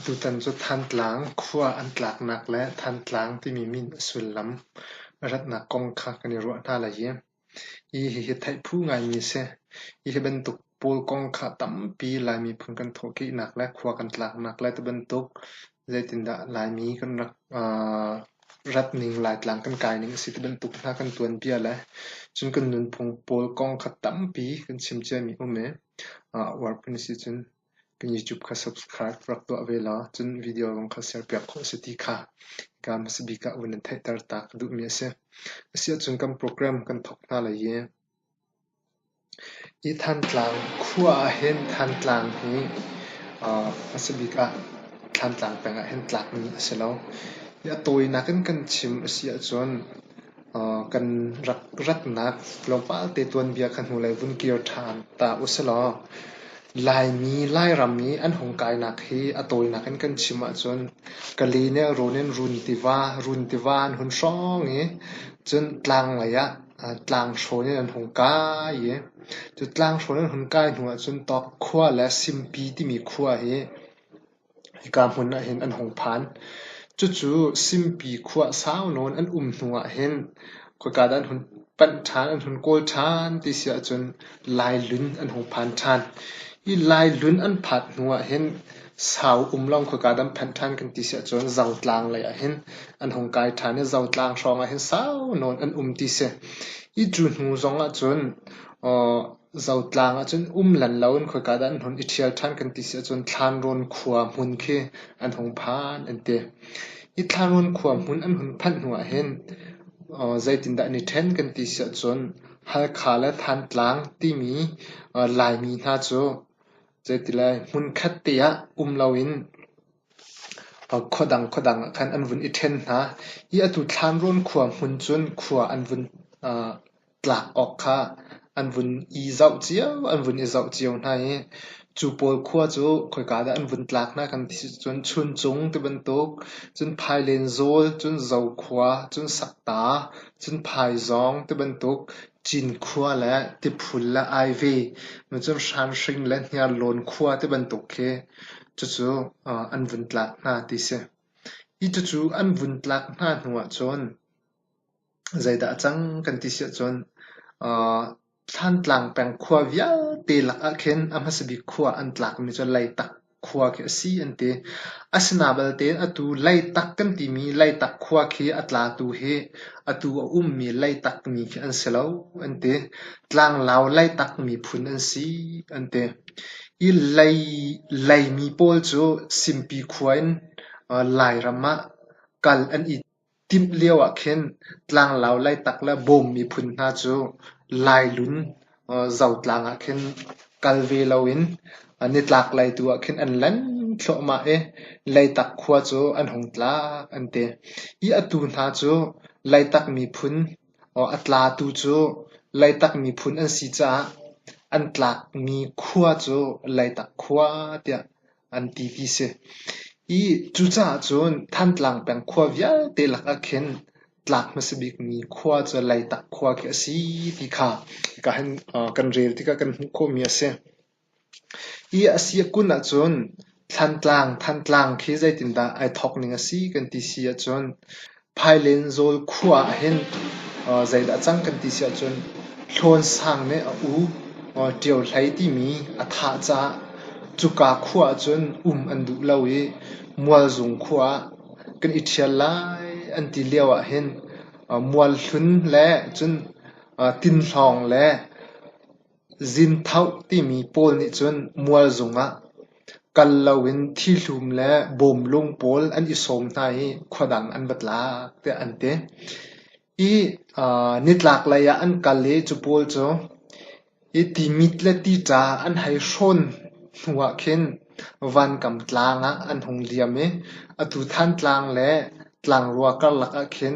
Tutan cu Thantlang khua an tlaknak le Thantlang timi min a sullam ratnak kong kha kan i ruah hna lai i Hihi theih phu ngaimi a si. Hihi bantuk pawl kong kha tampi Lai miphun kan thawhkehnak le khua kan tlaknak le tibantuk zeitindah Laimi kan rak rat ning, Laitlang kan kai ning a si tibantuk hna kan tuanbia le cun kan nunphung pawl kong kha tampi kan chim ciami um i, a uar phun a si cun. Kan YouTube kha subscribe rak tuah ve law cun video zong kha serpiak khawh a si ti kha hika hmasabik ah vun in theihter ta ka duhmi a si. Asiahcun kan program kan thawk hna lai i hi Thantlang khua ah hin Thantlang hi aa hmasabik ah Thlantlang peng ah hin tlakmi a si lo. Hi a tawinak in kan chim a si ahcun kan rak ratnak tlawmpal te tuanbia kha hnulei vun kir ṭhan ta u si law Laimi Lairam i an hung kainak hi a tawinak in kan chim ahcun Kali nih run in run tiva run tiva an hun hrawng i cun tlanglei ah tlanghrawn in an hung kai i cu tlanghrawn an hun kai hnu ahcun Tawk khua le Simpi timi khua hi Hika hmun ah hin an hung phan. Cucu Simpi khua sau nawn an um hnu ah hin khoika dah an hun panh ṭhan, an hun kawl ṭhan ti si ahcun Laihlun an hung phan ṭhan. Hi Laihlun an phat hnu ah hin sau um lawng khoika dah an phanh ṭhan kan ti si ahcun Zotlang lei ah hin an hung kai ṭhan i Zotlang hrawng ah hin sau nawn an um ti si. Hi cu hnu zong ahcun Zotlang ahcun um lan loin khoika dah an hmun i ṭhial ṭhan kan ti si ahcun Thlanrawn khua hmun khi an hung phan an ti. Hi Thlanrawn khua hmun an hun phanh hnu ahhin zeitindah an i ṭhen kan ti si ahcun Halkha le Thantlang timi Laimi hna cu zeiti lai hmunkhat te ah um loin khua dang khua dang ahkhan an vun i ṭhen hna. Hi atu Thlanrawn khua hmun cun khua an vun tlak awk kha an vun i zoh cio, an vun i zoh cio hna i cu pawl khua cu khoika dah an vun tlak hna kan ti cun Chuncung tibantuk cun Phailen zawl cun Zokhua cun Sakta cun Phaizawng tibantuk Cinkhua le Tiphul le Aive cun Hranhring le Hniarlawn khua tibantuk khi cucu an vun tlak hna ti si. Hi cucu an vun tlak hna hnu ahcun Zeidah a cang kan ti siahcun Thlantlang peng khua vialte lak ahkhin a hmasa bik khua an tlakmi cu Leitak khua khi a si an ti. Asinain balte atu Leitak kan timi Leitak khua khi a tlatu hi atu a ummi Leitak ni khi an si lo an ti. Tlanglau Leitak miphun an si an ti. Hi Leimi pawl cu Simpi khua in Lairam ah kal an i. Timh lio ah khin tlanglau Leitak le Bawm miphun hna cu Lailun Zotlang ah khin kal ve loin nitlaklei tu ah khin an lan thluahmah i Leitak khua cu an hung tlak an ti. I atu hna cu Leitak miphun a tlatu cu Leitak miphun an si caah an tlakmi khua cu Leitak khua tiah an ti ti si. Hi cucaah cun Thantlang peng khua vialte lakah khin tlak hmasa bikmi khua cu Leitak khua khi a si ti kha ka han kan rel tikah kan hmuh khawhmi a si. Hi a si a kun ahcun Thantlang, Thantlang khi zeitindah ai thawk ning a si kan ti si ahcun Phailin Zawl khua ah hin zeidah a cang kan ti si ahcun Hlawn Sang nih a u Ṭio Hlei timi a thah caah cuka khua ahcun um an duh lo i Mualzung khua ah kan i ṭhial lai an ti lio ahhin Mual Hlun le cun Tin Hlawng le Zinthoh timi pawl nih cun mualzung ah kal loin thihlum le bawmlung pawl an i sawm hna i khuadang an va tlak tiah an ti. Hi nitlaklei ah an kal i cu pawl cu hi timit le tica an hei hrawn hnu ah khin vankam tlang ah an hung liam i atu Thantlang le tlangrua karlak ah khin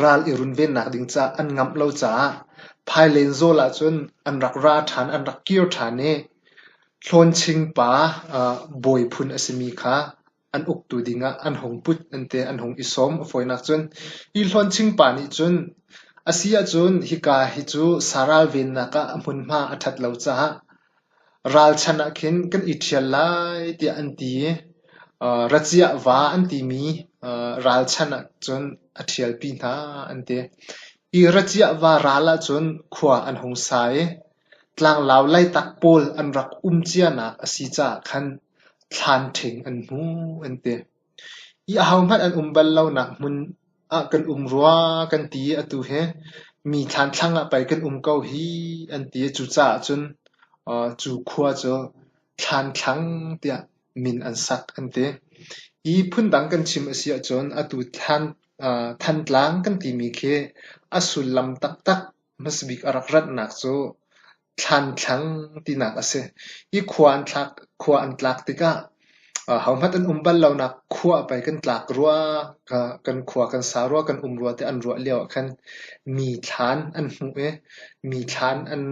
Ral i runvennak ding caah an ngamh lo caah phailen zawl ahcun an rak ra ṭhan, an rak kir ṭhan i Hlawnching pa bawi phun a simi kha an uktu dingah an hung put ente an hung i sawm. A fawinak cun hi Hlawnching pa nih cun a si ahcun hika hi cu sa ralvennak ah a hmunhma a ṭhat lo caah Ralchan ah khin kan i ṭhial lai tiah an ti i raciah va an timi ralchan ah cun a ṭhialpi hna an ti. Hi raciah va ral ahcun khua an hung sa i tlanglau Leitak pawl an rak um cianak a si caah khan thlan ṭhing an hmu an ti. Hi ahohmanh an um bal lonak hmun ah kan um rua kan ti i atu hi mi thlanthlang ah pei kan um ko hi an ti i cucaah cun cu khua cu thlanthlang tiah min an sak an ti. Hi phundang kan chim a si ahcun atu Thantlang kan timi khi a sullam taktak hmasabik a rak ratnak cu Thlanthlang tinak a si. Hi khua an thlak, khua an tlak tikah hohmanh an um bal lonak khua a pei kan tlak rua, kan khua kan sa rua, kan um rua tiah an ruah lio ah khan mi thlan an hmuh i mi thlan an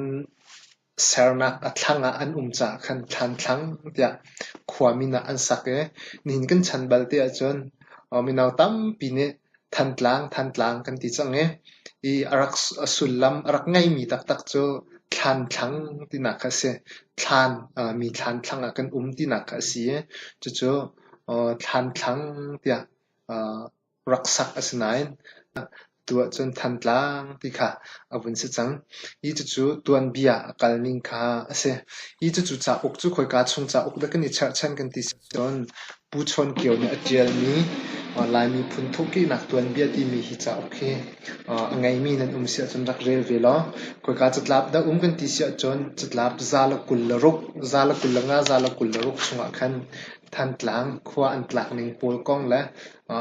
sernak a thlang ah an um caah khan thlanthlang tiah khua min ah an sak i nihin kan chan bal ti ahcun mino tampi nih Thantlang, Thantlang kan ti cang i, i a rak sullam a rak ngeimi taktak cu thlanthlang tinak kha a si. Thlan mi thlanthlang ah kan um tinak kha a si i, cucu thlanthlang tiah rak sak a si nain, atu ahcun Thantlang ti kha a vun si cang. Hi cucu tuanbia a kalning kha a si. Hi cucu cauk cu khawika chung cauk dah kan i cherhchan kan ti si cun, Pu Chawn Kio nih a ṭialmi Laimi phunthuk ṭihnak tuanbia timi hi cauk hi a ngeimi nan um si ahcun rak rel ve law khoika catlap dah um kan ti si ahcun catlap za le kul le ruk, za le kul le nga, za le kul le ruk chungah khan Thantlang khua an tlak ning pawl kong le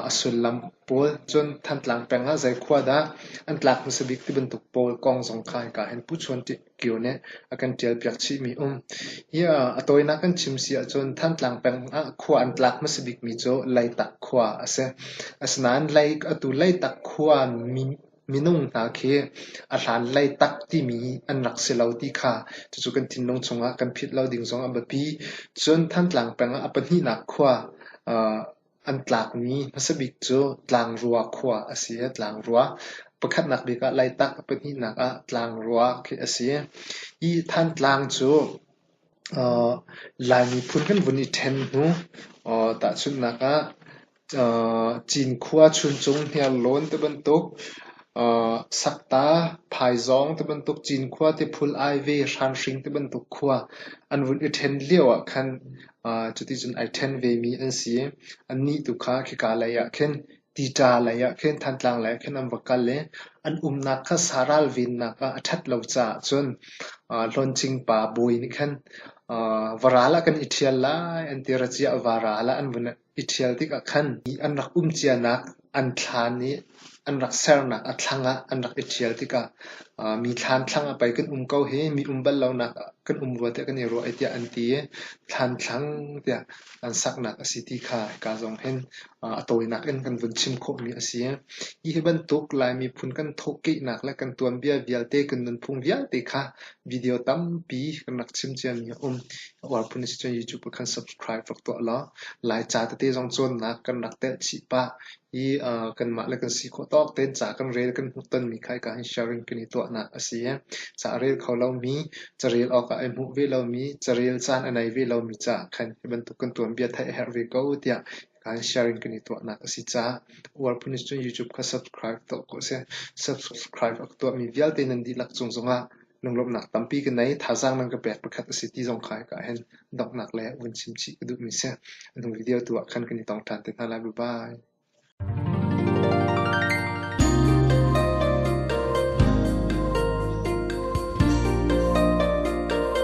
a sullam pawl cun Thantlang peng ah zei khua dah an tlak hmasa bik ti bantuk pawl kong zong kha hika hin Pu Chawn ṭih. kio nih a kan ṭialpiak chihmi a um. Ia, a tawinak kan chim si ahcun Thantlang peng ah khua an tlak hmasa bikmi cu Leitak khua a si. Asinain Lei, atu Leitak khua mi- minung hna khi a hlan Leitak timi an rak si lo ti kha cucu kan thinlung chungah kan phit lo ding zong a biapi. Cun Thantlang peng ah a pahnihnak khua ah An tlakmi hmasa bik cu Tlangrua khua a si i Tlangrua pakhatnak bik ah Laitah, pahnihnak ah Tlangrua khi a si. Hi Thantlang cu uh, Lai miphun kan vun i ṭhen hnu uh, tahchunhnak ah uh, Cinkhua chuncung hniarlawn ti bantuk uh, Sakta, Phaizawng ti bantuk Cinkhua ti phul ai ve hranhring ti bantuk khua an vun i ṭhen lio ah khan Cuticun ai ṭhen vemi an si i annih tu kha khika leiah khin Tita leiah khin Thantlang leiah khin an va kal i an umnak kha saral vennak ah a ṭhat lo caah cun Hlawncing pa bawi nih khan va ral ah kan i ṭhial lai an ti. Racia a va ral ah an vun I ṭhial tikah khan an rak um cianak an thlaan i an rak sernak a thlang ah an rak i ṭhial tikah mi thlaan thlang ah pei kan um ko hi mi um bal lonak ah kan um rua tiah kan i ruah i tiah an ti i thlaan thlang tiah an saknak a si ti kha hika zong hin a tawinak in kan vun chim khawhmi a si. Hi hi bantuk Lai miphun kan thawhkehnak le kan tuanbia vialte kan nunphung vialte kha Video tampi kan rak chim ciami a um. A uar phun a si cun YouTube ah khan subscribe rak tuah law Laica tete zong cawnnak kan rak telh chih pah i uh, kanmah le kan si khawh tawk tein ca kan rel kan hmuh tonmi kha hika hin sharing kan i tuahnak a si. Ca a rel kho lomi, carel awkah ai hmuh ve lomi, carel caan a nei ve lomi ca khan hi bantuk kan tuanbia theih a herh ve ko tiah Kai sharing kan i tuahnak a si caah War Police cu YouTube kha subscribe tuah ko seh. Subscribe a ka tuahmi vialte nan dihlak cung zongah lunglawmhnak tampi ka nei. Thazaang nan ka pek pakhat a si ti zong kai ka hen donghnak le vun chimchih ka duhmi si. Anung video tu ah khan kan i tong ṭhan te hna lai. Bye-bye.